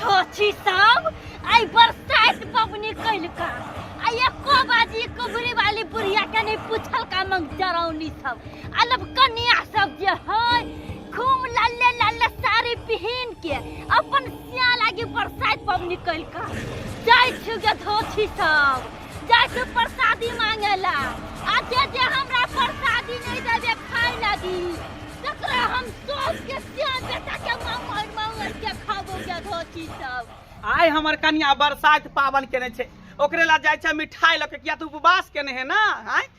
ठोछी सब आई बरसात पबनी कैल का आ एको बाजी कुबरी वाली बुढ़िया के नहीं पूछल का मंग जरौनी सब अलग कन्या सब जे है खूब लाले लाले साड़ी पहन के अपन सिया लागी बरसात पबनी कैल का जाय छुगे धोछी सब जाइ छै प्रसादी मांगे ला आ जे जे हमरा प्रसादी नहीं देबे खाय लागी तकरा हम सोच के सियान बेटा के मांगर मांगर के खाबो के धोती सब आइ हमर कनिया बरसाइत पावन केने छै ओकरे ला जाइ छै मिठाई लऽ के किया तू उपवास केने है ना आय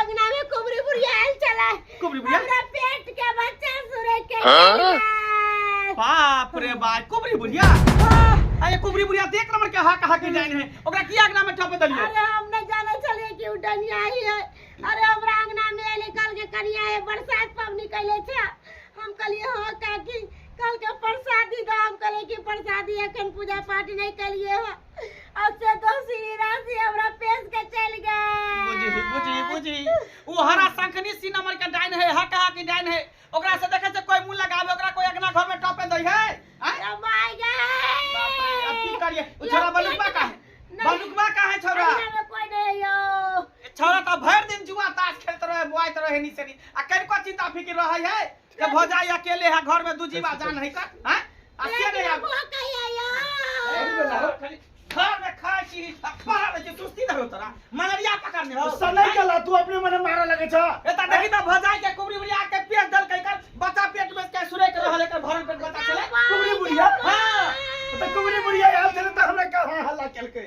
अंगना में कुबरी बुढ़िया आयल चला कुबरी बुढ़िया? हमरा पेट के बच्चा सुरे के हाँ? बाप रे बाप कुबरी बुढ़िया अरे कुबरी बुढ़िया देख नंबर के हाक हाक जाइन है ओकरा की आगना में ठप दलिए अरे हम न जाने चलिए कि उ डनिया ही है अरे हमरा अंगना में आयल कल के कनिया है बरसात पवनी कैले छे हम कहलिए हो काकी कल के प्रसादी दो हम कहलिए कि प्रसादी एखन पूजा पाठ नहीं कैलिए हो अब से दोषी राशि हमरा पेश के चल गए बुझी बुझी बुझी उ हरा शंखनी सी नंबर के डाइन है हक हक के डाइन है ओकरा से देखे से कोई मुंह लगावे ओकरा कोई अगना घर में टपे दई है आय? ओ माय बाप रे, अब की गॉड करिए उ छोरा बलुकवा का है बलुकवा का है छोरा में कोई नहीं यो छोरा तो भर दिन जुआ ताश खेलते रहे बुआइत रहे नीचे नी आ कनिको चिंता फिकिर रहे है के भौजाई अकेले है घर में दू जीवा जान है कर हैं आ के नहीं आब खाली घर में खाए छी पड़ा रहे छी सुस्ती धरो तोरा मलेरिया पकड़ने हो सब नहीं कला तू अपने मने मारा लगे छ एता देखी त भौजाई के कुबरी बुढ़िया के पेट दल के कर बच्चा पेट में के सुरे के रहले के भरन पेट बच्चा चले कुबरी बुढ़िया हां त कुबरी बुढ़िया आयल छले त हमरा का हल्ला केलकै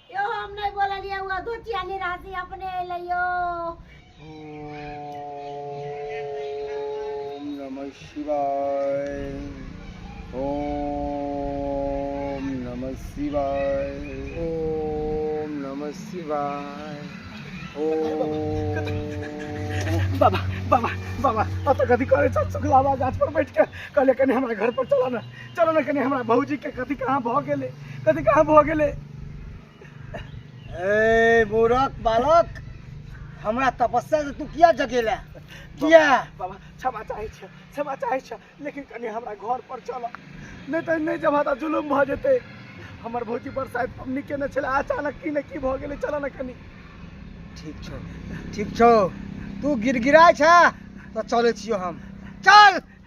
यो हम नहीं बोललिए वो धोतिया नहीं रहती अपने अइले यो ओम नमः शिवाय ओम नमः शिवाय ओम नमः शिवाय ओम बाबा बाबा बाबा अब तो कथी करे छ सुखलावा गाछ पर बैठ के कहले कनी हमरा घर पर चला ना चलो ने कनी हमरा भौजी के कथी कहाँ भऽ गेलै कथी कहाँ भऽ गेलै ए मूरख बालक हमरा तपस्या से तू किया जगेला किया बाबा क्षमा चाहै छ क्षमा चाहै छ लेकिन कनी हमरा घर पर चल नहि तऽ नहि जब तऽ जुलुम भऽ जेतै हमर भौजी पर शायद पबनी केने छलै अचानक की ने की भऽ गेलै चल ने कनी ठीक छौ ठीक छौ तू गिड़गिड़ाय छ तऽ चलै छियौ हम चल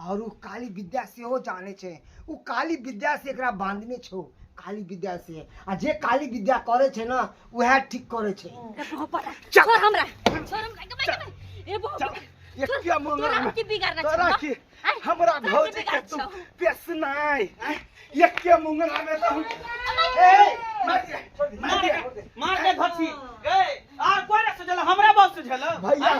और उ काली विद्या से हो जाने छे उ काली विद्या से एकरा बांधने छो काली विद्या से आ जे काली विद्या करे छे ना वह ठीक करे छे छोड़ हमरा छोड़ हमरा के बैठ में ए बाबा ये क्या मंगा तोरा हम की बिगाड़ना तोरा छे की हमरा तोरा की भौजी के बिगाड़ तुम छौ। पेसनाय ये क्या मंगा में तुम ए मार दे मार दे मार दे धरती ए आ कोई ना सजल हमरा बाप सजल भैया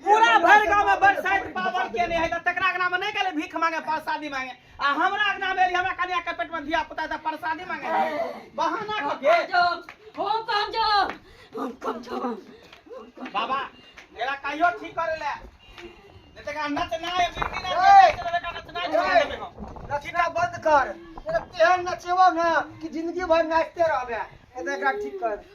पूरा भर गांव में बरसाइत पावर के नहीं है त तकरा अंगना में नहीं कहले भीख मांगे प्रसादी मांगे आ हमरा अंगना में एली, हमरा कन्या के पेट में धिया पुता त प्रसादी मांगे बहाना क के हम कम जाओ हम कम जाओ बाबा एला कहियो ठीक करे ले नहीं तकरा नच ना है बिरकी ना है तकरा का नच ना है छोड़ देबे हम रचना बंद कर तेहन नचेबो ना कि जिंदगी भर नाचते रहबे एतरा ठीक कर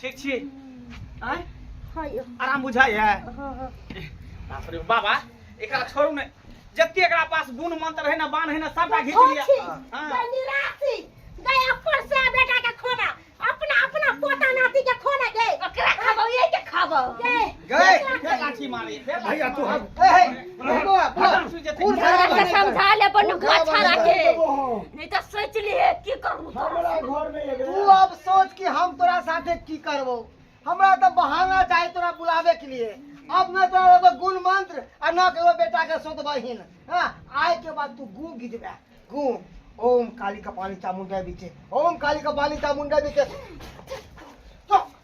ठीक छी आय हाँ यो आराम बुझाय है हाँ हाँ बाप रे बाबा एकरा छोड़ू ने जते एकरा पास गुण मंत्र है ना बाण है ना सबटा घीच लिया छोटी हाँ। गई निराशी गई अपन से बेटा के खोना अपना अपना पोता नाती के खोना गई ओकरा खाबो ये के खाबो गई गई फेर लाठी मारे फेर लाठी भैया तू मारे। हम ए, हे, समझाले पर नुक अच्छा रखे नहीं तो सोच लिए की करू हमरा घर में एबे तू अब सोच कि हम तोरा साथे की करबो हमरा तो बहाना चाहे तोरा बुलावे के लिए अब न तोरा एगो गुण मंत्र आ न केगो बेटा के सोत बहिन हां आय के बाद तू गू गिजबे गू ओम काली कपाली चामुंडा बीचे ओम काली कपाली चामुंडा बीचे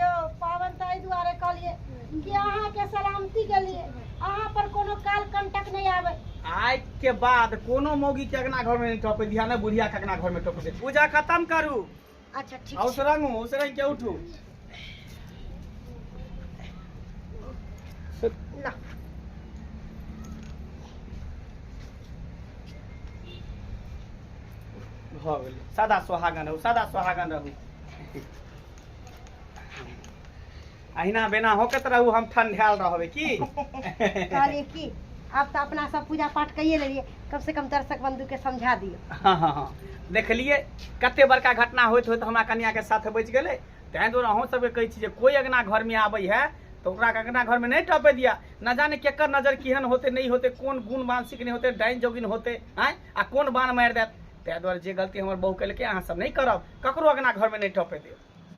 यौ पाबनि तऽ एहि दुआरे कहलिए कि अहाँ के सलामती के लिए अहाँ पर कोनो काल कंटक नहीं आवे आइ के बाद कोनो मौगी के अगना घर में नहीं टपे दिया ना बुढ़िया के अगना घर में टपे दिया। पूजा खत्म करू अच्छा ठीक और सरंग हो सरंग के उठू ना भऽ गेलै सदा सुहागन रहू सदा सुहागन रहू अहिना बेना होकत रहू हम ठंडायल रहबै की कहलिए की आब तऽ अपना सब पूजा पाठ कइए लेलिए कम से कम दर्शक बंधु के समझा दियो हाँ हाँ हाँ देखलिए कते बड़का घटना होइत होइत हमरा कन्या के साथ बच गेलै तैं दुआरे अहूँ सबके कहै छी जे कोई अगना घर में आबै है तो ओकरा अगना घर में नहीं टपे दिया न जाने केकर नजर केहन होते नहीं होते कोन गुण मानसिक नहीं होते डाइन जोगिन होते आय आ कोन बाण मारि देत तैं दुआरे जे गलती हमर बहू केलकै अहाँ सब नहीं करब ककरो अगना घर में नहीं टपे देब